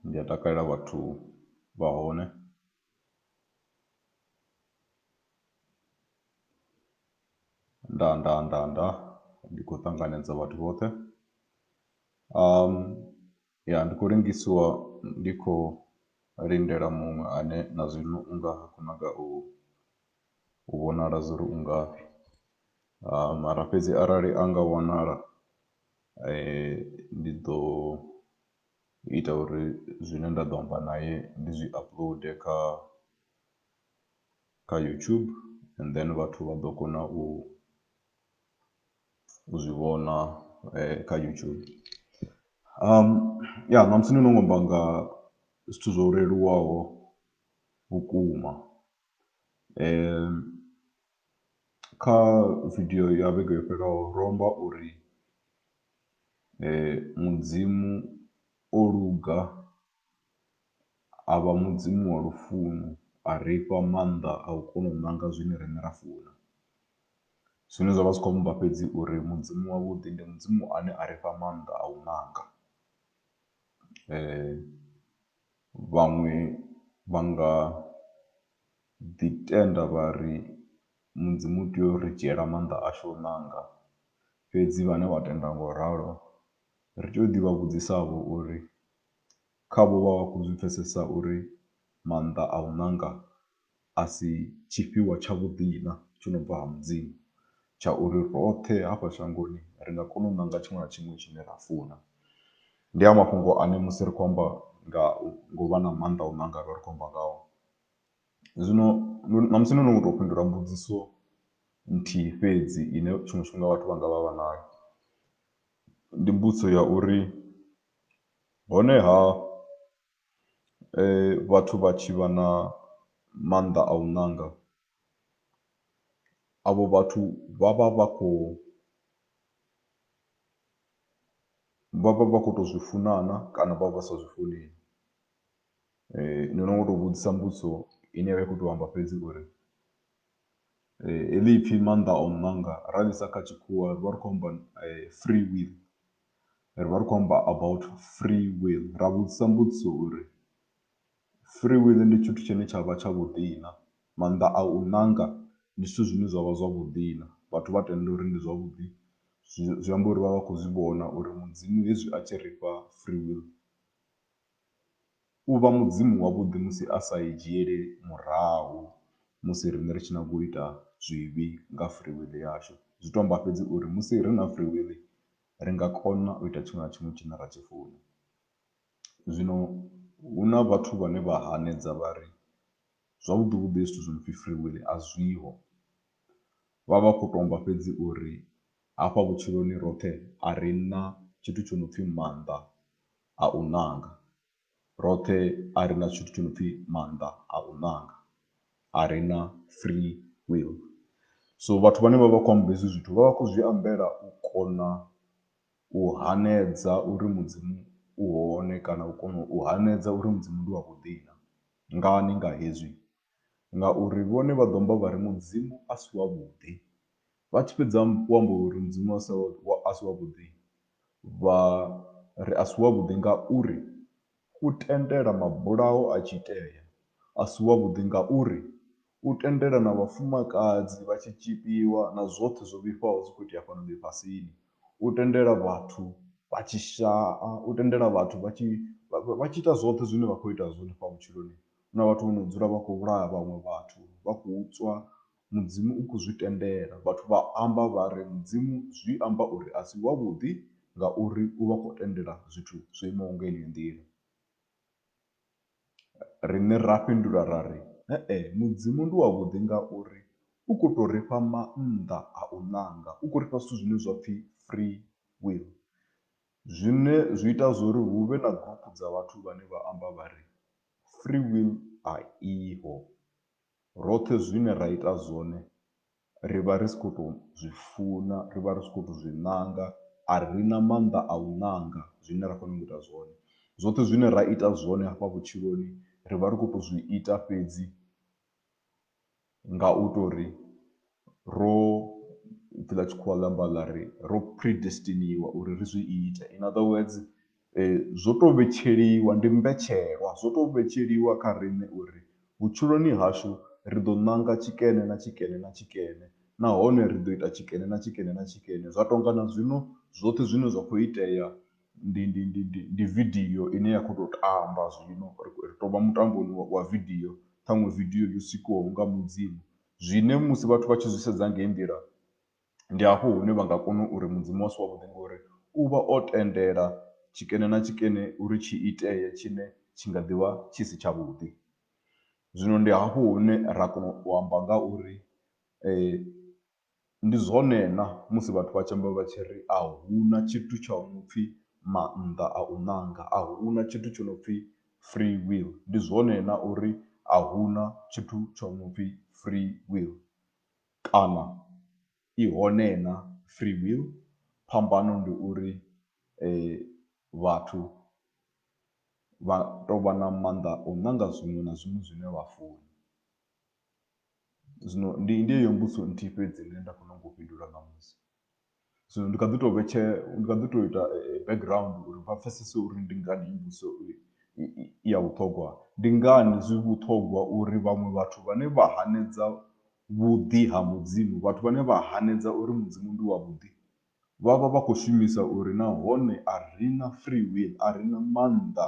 Ndi a takalela vhathu vha hone nda nda nda nda ndi khou ṱanganedza vhathu vhoṱhe . Ya, ndi khou lengisiwa ndi khou lindela muṅwe ane na zwino u nga ha khou nyaga u u vhonala zwa uri u ngafhi mara fhedzi arali a nga wanala ndi ḓo ita uri zwine nda ḓo amba naye ndi zwi upload kha kha YouTube and then vhathu vha ḓo kona u u zwi vhona kha YouTube. Ya, ṋamusi ndo no nga u amba nga zwithu zwo leluwaho vhukuma, kha video ya vhege yo fhelelaho ro amba uri Mudzimu o luga a vha Mudzimu wa lufuno, a ri fha maanḓa a u kona u nanga zwine riṋe ra funa. Zwine zwa vha zwi khou amba fhedzi uri Mudzimu wavhuḓi ndi Mudzimu ane a ri fha maanḓa a u nanga. Vhaṅwe vha nga ḓi tenda vha ri Mudzimu u tea u ri dzhiela maanḓa ashu a u nanga, fhedzi vhane vha tenda nga u ralo ri tea u ḓi vha vhudzisa vho uri khavho vha vha khou zwi pfesesa uri maanḓa a u ṋanga a si tshifhiwa tshavhuḓi-na tsho no bva ha Mudzimu tsha uri roṱhe hafha shangoni ri nga kona u ṋanga tshiṅwe na tshiṅwe tshine ra funa. Ndi a mafhungo ane musi ri khou amba nga ngo vha na maanḓa a u ṋanga ri vha ri khou amba ngaho. Zwino ṋamusi no no tou fhindula mbudziso nthihi fhedzi ine tshiṅwe tshifhinga vhathu vha nga vha vha nayo, ndi mbudziso ya uri Honeha, vhathu vha tshi vha na maanḓa a u ṋanga, avho vhathu vha vha vha khou vha vha vha khou tou zwi funa na kana vha vha sa zwi funi. Ndi no ngo tou vhudzisa mbudziso ine ya vha i khou tou amba fhedzi uri heḽi ipfhi maanḓa a u ṋanga ra ḽisa kha tshikhuwa ri vha ri khou amba free will. ri vha ri khou amba about free will ra vhudzisa mbudziso uri free will ndi tshithu tshine tsha vha tsha vhuḓi na, maanḓa a u ṋanga ndi zwithu zwine zwavha zwavhuḓi na vhathu vha tenda uri ndi zwavhuḓi zwi amba uri vha vha khou zwi vhona uri mudzimu hezwi a tshi ri fha free will. u vha Mudzimu wavhuḓi musi a sa i dzhieli murahu musi riṋe ri tshi nyaga u ita zwivhi nga free will yashu. Zwi tou amba fhedzi uri musi ri na free will ri nga kona u ita tshiṅwe na tshiṅwe tshine ra tshi funa. Zwino hu na vhathu vhane vha hanedza vha ri zwavhuḓi vhuḓi hezwi zwithu zwi no pfhi free will a zwiho, vha vha vha khou tou amba fhedzi uri hafha vhutshiloni roṱhe a ri na tshithu tsho no pfhi maanḓa a u ṋanga. Roṱhe a ri na tshithu tsho no pfhi maanḓa a u ṋanga, a ri na free will. So vhathu vhane vha vha khou amba hezwi zwithu vha vha khou zwi ambela u kona u hanedza uri Mudzimu u hone kana u kona u hanedza uri Mudzimu ndi wavhuḓi na. Ngani nga hezwi? ngauri vhone vha ḓo amba vha ri Mudzimu a si wavhuḓi. Vha tshi fhedza u amba uri Mudzimu a si a si wavhuḓi vha ri a si wavhuḓi ngauri u tendela mabulayo a tshi itea, a si wavhuḓi ngauri u tendela na vhafumakadzi vha tshi tzhipiwa na zwoṱhe zwo vhifhaho zwi khou itea fhano ḽifhasini. U tendela vhathu vha tshi shaa, u tendela vhathu vha tshi vha tshi ita zwoṱhe zwine vha khou ita zwone fha vhutshiloni Hu na vhathu vho no dzula vha khou vhulaya vhaṅwe vhathu vha khou tswa mudzimu u khou zwi tendela vhathu vha amba vha ri mudzimu zwi amba uri a si wavhuḓi ngauri u vha kho tendela zwithu zwo imaho nga heneyo nḓila. Riṋe ra fhindula ra ri he-e mudzimu ndi wa vhuḓi ngauri u kho to ri fha maanḓa a u ṋanga u khou ri fha zwithu zwine zwa pfhi free will zwine zwi ita zwori hu vhe na group dza vhathu vhane vha amba vha ri Free will a iho, roṱhe zwine ra ita zwone ri vha ri si khou tou zwi funa, ri vha ri si khou tou zwi ṋanga, a ri na maanḓa a u ṋanga zwine ra khou nyanga u ita zwone. Zwoṱhe zwine ra ita zwone hafha vhutshiloni ri vha ri khou tou zwi ita fhedzi. nga u tou ri ro, ipfi ḽa tshikhuwa ḽi amba ḽa ri ro predestiniwa uri ri zwi ite. In other words zwo tou vhetsheliwa, ndi mbetshelwa. Zwo tou vhetsheliwa kha riṋe uri vhutshiloni hashu ri ḓo ṋanga tshikene na tshikene na tshikene nahone ri ḓo ita tshikene na tshikene na tshikene. Zwa tou nga na zwino zwoṱhe zwine zwa khou itea ndi ndi ndi ndi ndi vidio ine ya khou tou tamba zwino ri ri tou vha mutamboni wa wa vidio ṱhaṅwe vidio yo sikiwaho nga mudzimu zwine musi vhathu vha tshi zwi sedza ngei nḓila ndi hafho hune vha nga kona uri mudzimu a si wavhuḓi ngori u vha o tendela tshikene na tshikene uri tshi itee tshine tshi nga ḓivha tshi si tshavhuḓi zwino ndi hafho hune ra kona u amba nga uri . Ndi zwone na musi vhathu vha tshi amba vha tshi ri a hu na tshithu tsha no pfhi maanḓa a u ṋanga, a hu na tshithu tsho no pfhi free will. Ndi zwone na uri a hu na tshithu tsho no pfhi free will kana i hone na free will. Phambano ndi uri vhathu vha tou vha na maanḓa a u ṋanga zwiṅwe na zwiṅwe zwine vha funa Zwino ndi ndi yeyo mbudziso nthihi fhedzi ine nda khou nyanga u fhindula ṋamusi. Zwino ndi kha ḓi tou vhetshe, ndi kha ḓi tou ita background uri vha pfhesese uri ndi ngani heyi mbudziso i i ya vhuṱhongwa. Ndi ngani zwi vhuṱhongwa uri vhaṅwe vhathu vhane vha hanedza vhuḓi ha Mudzimu, vhathu vhane vha hanedza uri Mudzimu ndi wavhuḓi vha vha vha khou shumisa uri nahone a ri na free will, a ri na maanḓa.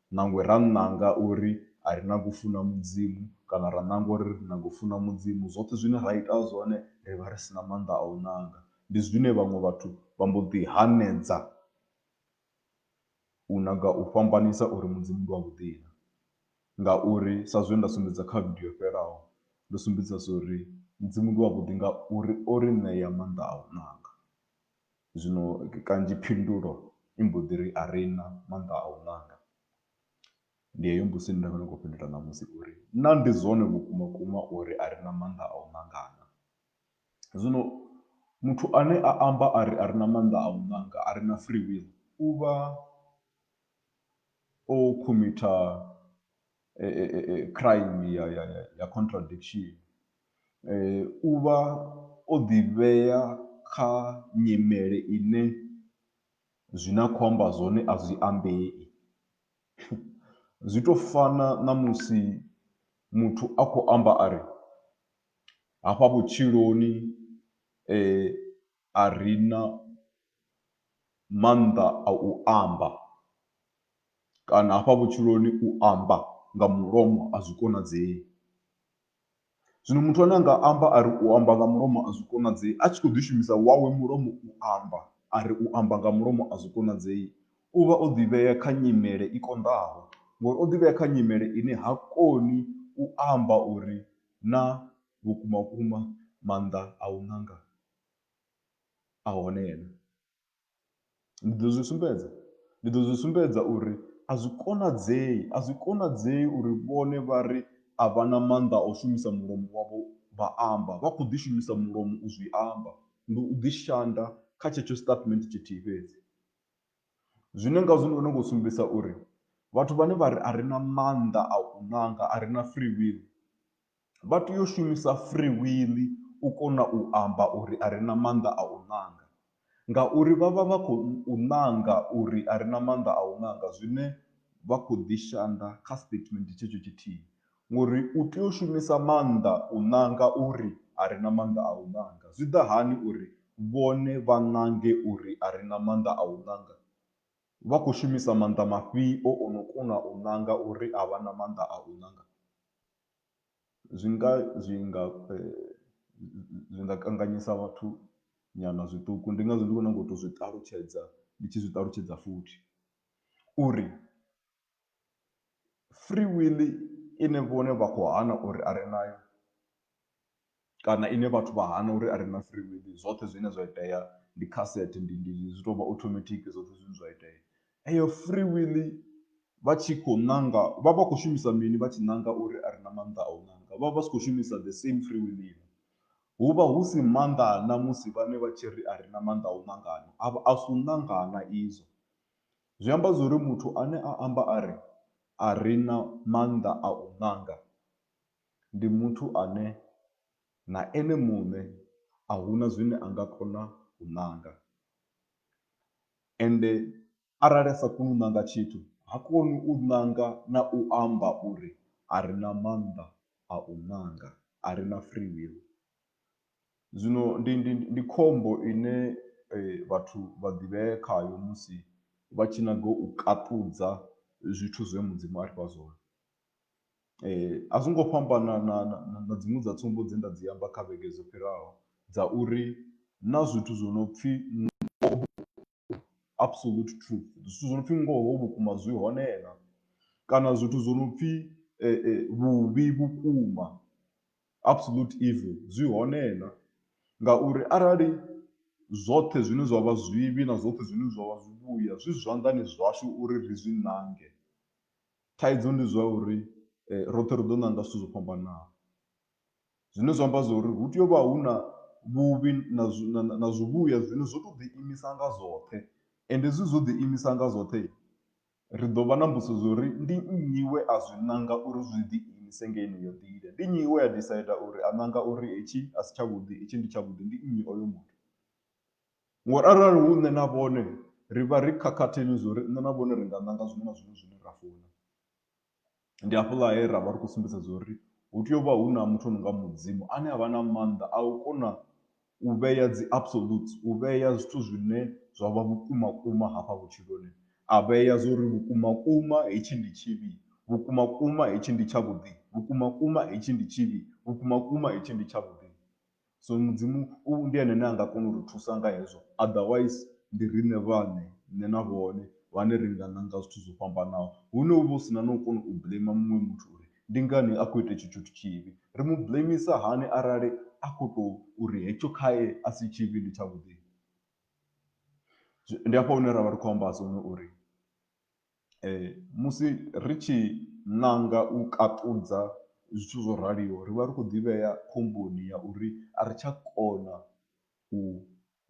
Nangwe ra nanga uri a ri nagi u funa Mudzimu kana ra nanga uri ri nyaga u funa Mudzimu, zwoṱhe zwine ra ita zwone ri vha ri si na maanḓa a u nanga. Ndi zwine vhaṅwe vhathu vha mbo ḓi hanedza u nyaga u fhambanisa uri Mudzimu ndi wavhuḓi-na. Ngauri sa zwe nda sumbedza kha vidio yo fhelaho, ndo sumbedzisa zwo ri Mudzimu ndi wavhuḓi ngauri o ri ṋea maanḓa a u nanga. Zwino kanzhi phindulo i mbo ḓi ri a ri na maanḓa a u ṋanga. Ndi heyo mbudziso ine nda vha ndi khou fhindula ṋamusi uri naa ndi zwone vhukuma vhukuma uri a ri na maanḓa a u ṋanga naa. Zwino muthu ane a amba a ri a ri na maanḓa a u ṋanga a ri na free will u vha o khomitha. crime ya ya ya ya contradiction u vha o ḓi vhea kha nyimele ine zwine a khou amba zwone a zwi ambei. Zwi tou fana na musi muthu a khou amba a ri hafha vhutshiloni a ri na maanḓa a u amba kana hafha vhutshiloni u amba nga mulomo a zwi konadzei. Zwino muthu ane a nga amba a ri u amba nga mulomo a zwi konadzei a tshi kho ḓi shumisa wawe mulomo u amba a ri u amba nga mulomo a zwi konadzei u vha o ḓi vhea kha nyimele i konḓaho ngori o ḓi vhea kha nyimele ine ha koni u amba uri na vhukuma vhukuma maanḓa a u nanga. a hone yena. Ndi ḓo zwi sumbedza, ndi ḓo zwi sumbedza uri a zwi konadzei, a zwi konadzei uri vhone vha ri a vha na maanḓa a u shumisa mulomo wavho vha amba. Vha khou ḓi shumisa mulomo u zwi amba, ndi u ḓi shanda kha tshetsho statement tshithihi fhedzi. Zwine ngazwo ndi khou nyanga u sumbedzisa uri vhathu vhane vha ri a ri na maanḓa a u ṋanga, a ri na free will, vha tea u shumisa free will u kona u amba uri a re na maanḓa a u ṋanga ngauri vha vha vha khou ṋanga uri a re na maanḓa a u ṋanga zwine vha kho ḓi shanda kha statement tshetsho tshithihi ngori u tea u shumisa maanḓa u ṋanga uri a re na maanḓa a u ṋanga zwi ḓa hani uri vhone vha ṋange uri a re na maanḓa a u ṋanga vha khou shumisa maanḓa mafhio o no kona u ṋanga uri a vha na maanḓa a u ṋanga. Zwi nga zwi nga zwi nga kanganyisa vhathu nyana zwiṱuku ndi ngazwo ndi khou nyaga u tou zwi ṱalutshedza ndi tshi zwi ṱalutshedza futhi uri free will ine vhone vha khou hana uri a ri nayo. kana ine vhathu vha hana uri a re na free will zwoṱhe zwine zwa itea ndi kha set ndi ndi zwi tovha automatic zwoṱhe zwine zwa itea eyo free will vha tshi khou ṋanga vha vha khou shumisa mini vha tshi ṋanga uri a re na maanḓa a u ṋanga vha vha si khou shumisa the same free will ine hu vha hu si maanḓa a na musi vhane vha tshi ri a re na maanḓa a u ṋangana a vha a si u ṋangana izwo zwi amba zwori muthu ane a amba a ri a re na maanḓa a u ṋanga. ndi muthu ane na ene muṋe a hu na zwine a nga kona u ṋanga ende arali a sa koni u ṋanga tshithu ha koni u ṋanga na u amba uri a re na maanḓa a u ṋanga, a re na free will. Zwino ndi ndi ndi khombo ine vhathu vha ḓivhea khayo musi vha tshi nyaga u kaṱudza zwithu zwe Mudzimu a ri fha zwone. A zwi ngo fhambana na na na na dziṅwe dza tsumbo dze nda dzi amba kha vhege dzo fhiraho dza uri hu na zwithu zwo no pfhi absolute truth, zwithu zwo no pfhi ngoho vhukuma zwi hone na, kana zwithu zwo no pfhi vhuvhi vhukuma absolute evil zwi hone na. Ngauri arali zwoṱhe zwine zwa vha zwivhi na zwoṱhe zwine zwa vha zwivhuya zwi zwanḓani zwashu uri ri zwi ṋange, Thaidzo ndi zwa uri roṱhe ri ḓo ṋanga zwithu zwo fhambanaho. Zwine zwa amba zwa uri hu tea u vha hu na vhuvhi na zwi na zwivhuya zwine zwo tou ḓiimisa nga zwoṱhe. Ende hezwi zwo ḓiimisa nga zwoṱhe, ri ḓo vha na mbudziso dza uri ndi nnyi we a zwi ṋanga uri zwi ḓiimise nga heneyo nḓila. Ndi nnyi we a decide uri a ṋanga uri hetshi a si tshavhuḓi, hetshi ndi tshavhuḓi, ndi nnyi oyo muthu? Ngori arali hu nṋe na vhone ri vha ri khakhathini zwo ri nṋe na vhone ri nga ṋanga zwiṅwe na zwiṅwe zwine ra funa. Ndi hafhaḽa he ra vha ri khou sumbedza zwo ri hu tea u vha hu na muthu o no nga Mudzimu ane a vha na maanḓa a u kona u vhea dzi absolutes, u vhea zwithu zwine zwa vha vhukumakuma hafha vhutshiloni. A vhea zwo ri vhukumakuma hetshi ndi tshivhi, vhukumakuma hetshi ndi tshavhuḓi, vhukumakuma hetshi ndi tshivhi, vhukumakuma hetshi ndi tshavhuḓi. So mudzimu u ndi ene ane a nga kona u ri thusa nga hezwo otherwise ndi riṋe vhaṋe nṋe na vhone vhane ri nga ṋanga zwithu zwo fhambanaho. Hune hu vha hu si na na u kona u blamer muṅwe muthu uri ndi ngani a khou ita etsho tshithu tshivhi. Ri mu blamer hani arali a khou tou uri hetsho khae a si tshivhi ndi tshavhuḓi. Ndi hafha hune ra vha ri khou amba zwone uri. Musi ri tshi ṋanga u kaṱudza zwithu zwo raliho ri vha ri khou ḓivhea khomboni ya uri a ri tsha kona u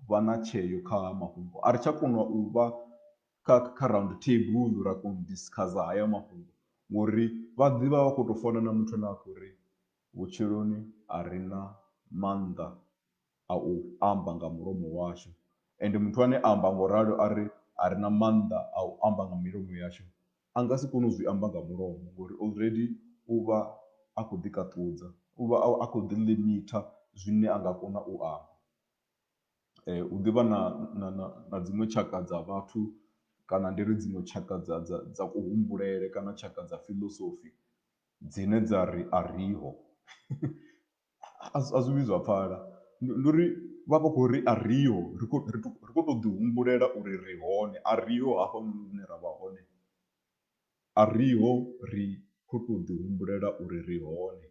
vha na tsheo kha ha mafhungo, a ri tsha kona u vha kha kha round table ra kona u discuss haya mafhungo ngori vha ḓivha vha khou tou fana na muthu ane a khou ri vhutshiloni a ri na maanḓa a u amba nga mulomo washu. Ende muthu ane a amba nga u ralo a ri, A ri na maanḓa a u amba nga milomo yashu, a nga si kone u zwi amba nga mulomo, ngori already u vha a khou ḓikaṱudza, u vha a khou ḓi-limiter zwine a nga kona u amba. Hu ḓi vha na na na na dziṅwe tshaka dza vhathu kana ndi ri dziṅwe tshaka dza dza dza kuhumbulele kana tshaka dza philosophy dzine dza ri a riho. A zwi vhuyi zwa pfala. Ndi uri vha vha khou ri a riho, ri khou tou ḓihumbulela uri ri hone. A riho hafhanoni hune ra vha hone. A riho, ri khou tou ḓihumbulela uri ri hone.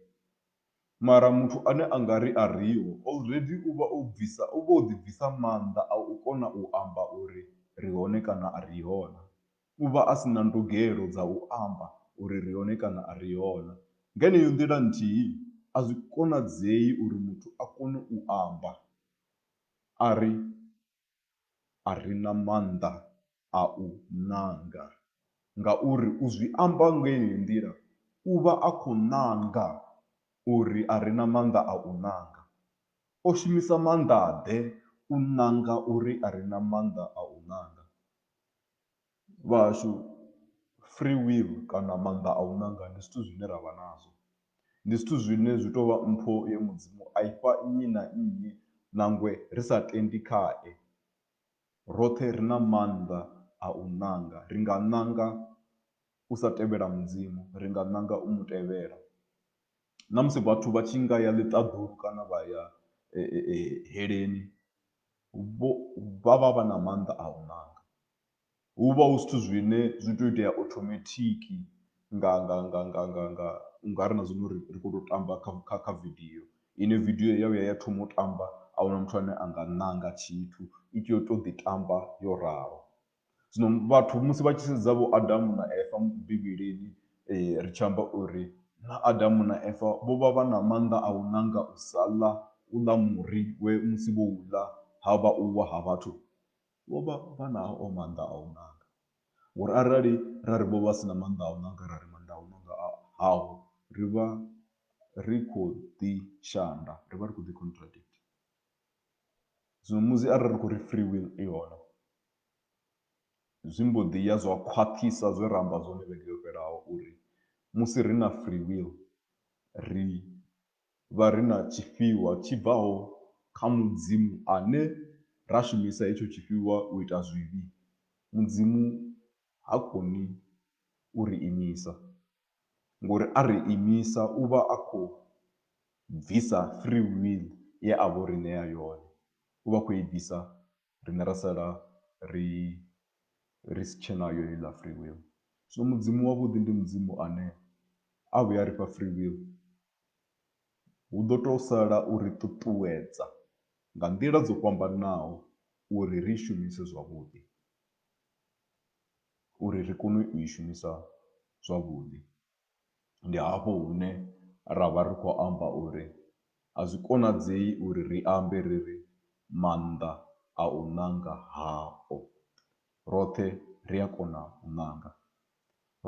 Mara muthu ane a nga ri a riho, already u vha o bvisa, u vha o ḓibvisa maanḓa a u kona u amba uri ri hone kana a riho na. u vha a si na ndugelo dza u amba uri ri hone kana a ri hona. Nga yeneyo nḓila nthihi, a zwi konadzei uri muthu a kone u amba a ri, A ri na maanḓa a u nanga. Ngauri u zwi amba nga yeneyo nḓila, u vha a khou nanga uri a ri na maanḓa a u nanga. O shumisa maanḓa-ḓe u nanga uri a ri na maanḓa a u nanga? vha hashu free will kana maanḓa a u ṋanga ndi zwithu zwine ra vha nazwo. Ndi zwithu zwine zwi tou vha mpho ye Mudzimu a i fha nnyi na nnyi nangwe ri sa tendi khae. Roṱhe ri na maanḓa a u ṋanga, ri nga ṋanga u sa tevhela Mudzimu, ri nga ṋanga u mu tevhela. Na musi vhathu vha tshi nga ya ḽiṱaḓulu kana vha ya Heleni. vho vha vha vha na maanḓa a u ṋanga. Hu vha hu zwithu zwine zwi tea u itea automatic nga nga nga nga nga nga u nga ri na zwino ri ri khou tou tamba kha kha kha video ine video ya vhuya ya thoma u tamba a huna muthu ane a nga ṋanga tshithu i tea u tou ḓi tamba yo ralo. Zwino vhathu musi vha tshi sedza vho Adamu na Eva Bivhilini ri tshi amba uri na Adamu na Eva vho vha vha na maanḓa a u nanga u sa ḽa u ḽa muri we musi vho u ḽa ha vha u wa ha vhathu, vho vha vha nao maanḓa a u nanga. Ngori arali ra ri vho vha si na maanḓa a u nanga ra ri maanḓa a u nanga a haho ri vha ri khou ḓi shanda, ri vha ri khou ḓi contradict. Zwino musi arali ri khou ri free will i hone. zwi mbo ḓi ya zwa khwaṱhisa zwe ra amba zwone vhege yo fhelaho uri musi ri na free will ri vha ri na tshifhiwa tshi bvaho kha Mudzimu ane ra shumisa hetsho tshifhiwa u ita zwivhi. Mudzimu ha koni u ri imisa ngori a ri imisa u vha a khou bvisa free will ye a vha o ri ṋea yone, u vha a khou i bvisa. riṋe ra sala ri ri si tshe nayo heiḽa free will. Zwino Mudzimu wavhuḓi ndi Mudzimu ane a vhuya a ri fha free will, hu ḓo tou sala u ri ṱuṱuwedza nga nḓila dzo fhambananaho uri ri i shumise zwavhuḓi, uri ri kone u i shumisa zwavhuḓi. Ndi hafho hune ra vha ri khou amba uri a zwi konadzei uri ri ambe ri ri, Maanḓa a u ṋanga hao. Roṱhe ri a kona u ṋanga.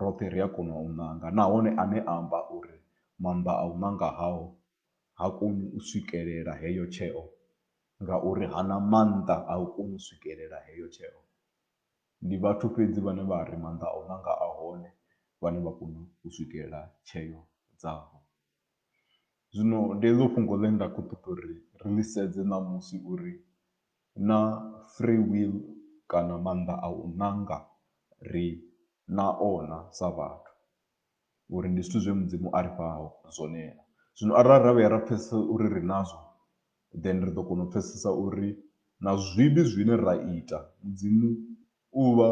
Roṱhe ri a kona u ṋanga nahone ane a amba uri maanḓa a u ṋanga hao ha koni u swikelela heyo tsheo ngauri ha na maanḓa a u koni u swikelela heyo tsheo. Ndi vhathu fhedzi vhane vha ri maanḓa a u nanga a hone vhane vha kona u swikelela tsheo dzavho. Zwino ndi heḽo fhungo ḽe nda khou ṱoḓa uri ri ḽi sedze ṋamusi uri naa free will kana maanḓa a u nanga ri nao na sa vhathu. uri ndi zwithu zwe Mudzimu a ri fha zwone na. Zwino arali ra vhuya ra pfesesa uri ri nazwo, then ri ḓo kona u pfesesa uri na zwivhi zwine ra ita Mudzimu u vha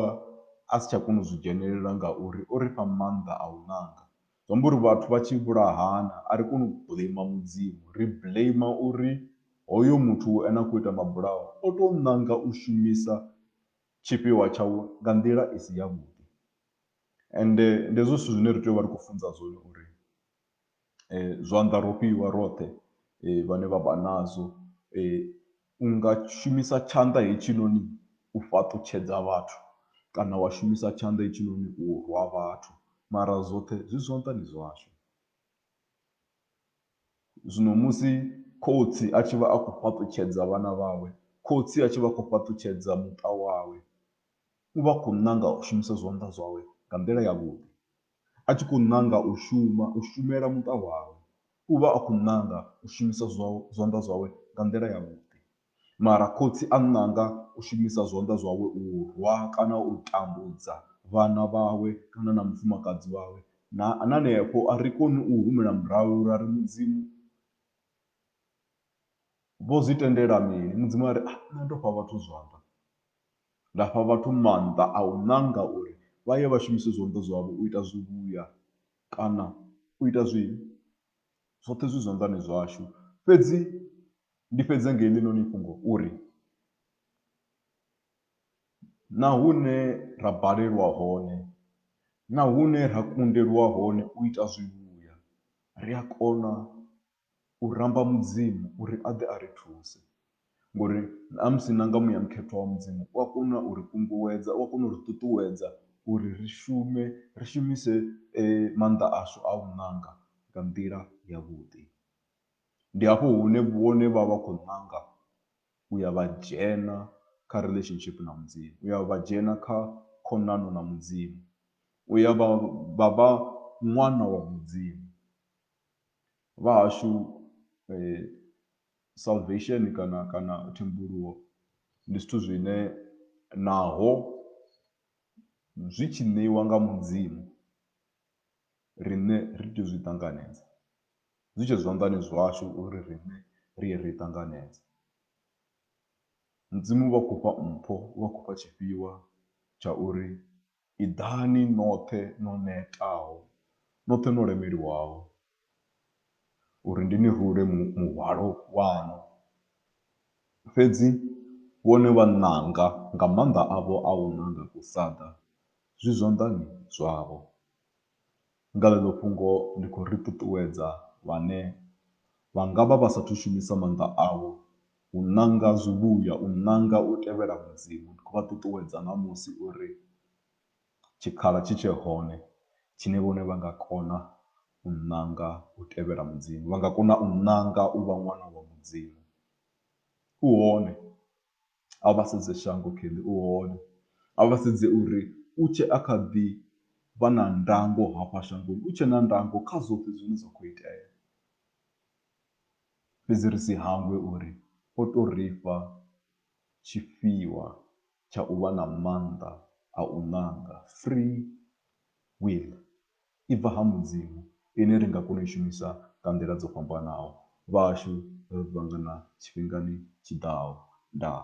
a si tsha kona u zwi dzhenelela ngauri o ri fha maanḓa a u nanga. Zwi amba uri vhathu vha tshi vhulahana a ri koni u blame Mudzimu, ri blame uri hoyo muthu ane a khou ita mabulayo o tou ṋanga u shumisa tshifhiwa tshawe nga nḓila i si yavhuḓi. Ende ndi hezwo zwithu zwine ri tea u vha ri khou funza zwone uri zwanḓa ro fhiwa roṱhe vhane vha vha nazwo. U nga shumisa tshanḓa hetshinoni u fhaṱutshedza vhathu kana wa shumisa tshanḓa hetshinoni u rwa vhathu mara zwoṱhe zwi zwanḓani zwashu. Zwino musi khotsi a tshi vha a khou fhaṱutshedza vhana vhawe, khotsi a tshi vha a khou fhaṱutshedza muṱa wawe. U vha a khou nanga u shumisa zwanḓa zwawe nga nḓila yavhuḓi. A tshi khou nanga u shuma, u shumela muṱa wawe, u vha a khou nanga u shumisa zwanḓa zwawe nga nḓila yavhuḓi. Mara khotsi a nanga u shumisa zwanḓa zwawe u rwa kana u tambudza vhana vhawe kana na mufumakadzi wawe. Na hanefho a ri koni u humela murahu ra ri Mudzimu, Vho zwi tendela mini? Mudzimu a ri, Nṋe ndo fha vhathu zwanḓa. Nda fha vhathu maanḓa a u ṋanga uri vha ye vha shumise zwanḓa zwavho u ita zwivhuya kana u ita zwivhi. Zwoṱhe zwi zwanḓani zwashu. Fhedzi ndi fhedze nga heḽinoni fhungo uri, na hune ra balelwa hone, na hune ra kundelwa hone u ita zwivhuya, ri a kona u ramba Mudzimu uri a ḓe a ri thuse ngori na musi na nga muya mukhethwa wa Mudzimu u a kona u ri kunguwedza, u a kona u ri ṱuṱuwedza uri ri shume, ri shumise maanḓa ashu a u ṋanga nga nḓila yavhuḓi. Ndi hafho hune vhone vha vha khou ṋanga u ya vha dzhena kha relationship na Mudzimu, u ya vha dzhena kha khonani na Mudzimu, u ya vha vha ṅwana wa Mudzimu. vhahashu salvation kana kana thembuluwo ndi zwithu zwine naho zwi tshi ṋeiwa nga Mudzimu riṋe ri tea u zwi ṱanganedza, zwi tshe zwanḓani zwashu uri riṋe ri ye ri ṱanganedze. Mudzimu u vha khou fha mpho, u vha khou fha tshifhiwa tsha uri Iḓani noṱhe no netaho, noṱhe no lemeliwaho, uri ndi ni rule muhwalo waṋu. Fhedzi vhone vha nanga nga maanḓa avho a u nanga u sa ḓa zwi zwanḓani zwavho. Nga ḽeḽo fhungo ndi khou ri ṱuṱuwedza vhane vha nga vha vha sa athu shumisa maanḓa avho u ṋanga zwivhuya, u ṋanga u tevhela Mudzimu. Ndi khou vha ṱuṱuwedza ṋamusi uri tshikhala tshi tshe hone tshine vhone vha nga kona u ṋanga u tevhela Mudzimu, vha nga kona u ṋanga u vha ṅwana wa Mudzimu. U hone. A vha sedze shango Kelly u hone. A vha sedze uri u tshe a kha ḓi vha na ndango hafha shangoni, u tshe na ndango kha zwoṱhe zwine zwa khou itea. Fhedzi ri si hangwe uri o tou ri fha tshifhiwa tsha u vha na maanḓa a u ṋanga, free will. i bva ha Mudzimu ine ri nga kona u i shumisa nga nḓila dzo fhambanaho. Vhashu ri ḓo ṱangana tshifhingani tshi ḓaho. Ndaa.